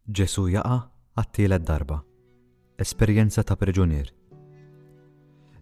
Ġesù jaqa' għat-tielet darba. Esperjenza ta' priġunier.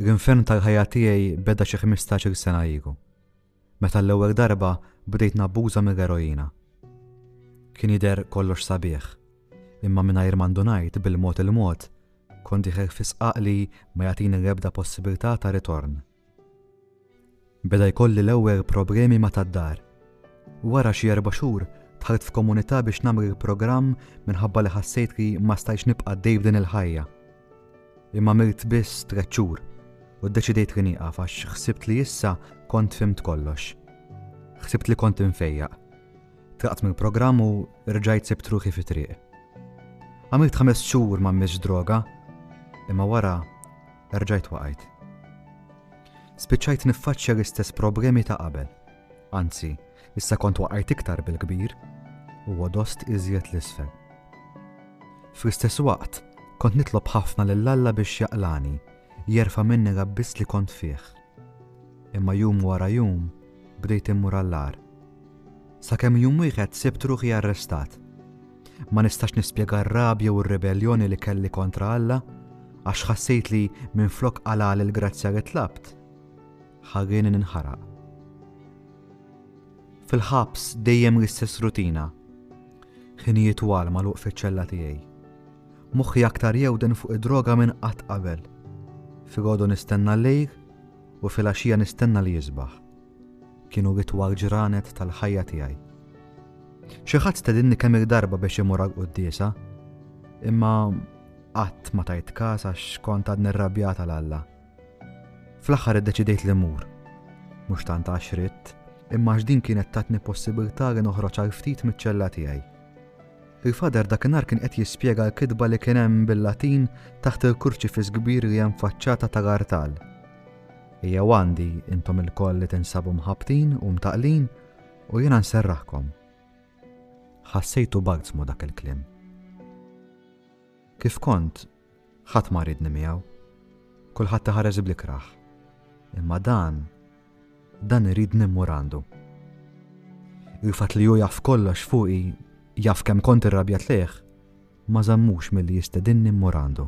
L-infern tal-ħajja tiegħi beda xi ħmistax-il sena ilu, meta għall-ewwel darba bdejt nabbuża mill-eroina. Kien jidher kollox sabiħ, imma mingħajr ma ndunajt bil-mod il-mod kont diħel fi sqaq li ma jagħtini l-ebda possibilità ta' ritorn. Beda jkolli l-ewer problemi ma tad-dar. Wara xi erba' xhur dħalt f'komunità biex nagħmrr programm minħabba li ħassejt li ma stajtx nibqa' għaddej b'din il-ħajja. Imma għamilt biss tliet xhur u ddeċidejt li nieqaf għax ħsibt li issa kont fhimt kollox. Ħsibt li kont infejjaq. Tlaqt mill-programm u rġajt sibt ruħi fi triq. Għamilt ħames xhur ma mmiss droga imma wara Erġajt waqajt. Spiċċajt niffaċċja l-istess problemi ta' qabel. Anzi, issa kont waqajt iktar bil-kbir u għodost iżjed l-isfel. Fl-istess waqt, kont nitlob ħafna lil Alla biex jaqlani, jerfa' minni l-abbiss li kont fih. Imma jum wara jum bdejt immur għall-ar. Sakemm jum wieħed sibt ruħi arrestat. Ma nistax nispjega r-rabja u r-ribelljoni li kelli kontra Alla, għax ħassejt li minflok qalali l-grazzja li tlabt, ħallieni ninħaraq. Fil-ħabs dejjem l-istess rutina. Ħinijiet twal magħluq fiċ-ċella tiegħi. Moħħi aktar jewden fuq id-droga minn qatt qabel. Filgħodu nistenna l-lejl u fil-għaxija nistenna li jisbaħ. Kienu itwal ġranet tal-ħajja tiegħi. Xi ħadd stedinni kemm-il darba biex imur għal quddiesa, imma qatt ma tajt każ għax kont għad nirrabjata l Alla. Fl-aħħar iddeċidejt li mur. Mhux tant għax ritt, imma għax din kienet tatni possibilità li noħroġ għal ftit miċ-ċella tiegħi. Il-fader dakinhar kien qed jispjega l-kitba li kien hemm bil-Latin taħt il-kurċifis kbir li hemm faċċata tal-artal. Jew għandi, intom ilkoll li tinsabu mħabbtin u mtaqlin, u jiena nserraħkom. Ħassejtu balzmu dak il-kliem. Kif kont, ħadd ma ridni miegħu. Kulħadd iħares bl-ikraħ. Imma dan, dan iridni mmur għandu. Il-fatt li hu jaf kollox fuqi, jaf kemm kont irrabjat lejh, ma żammux milli jistedinni mmur għandu.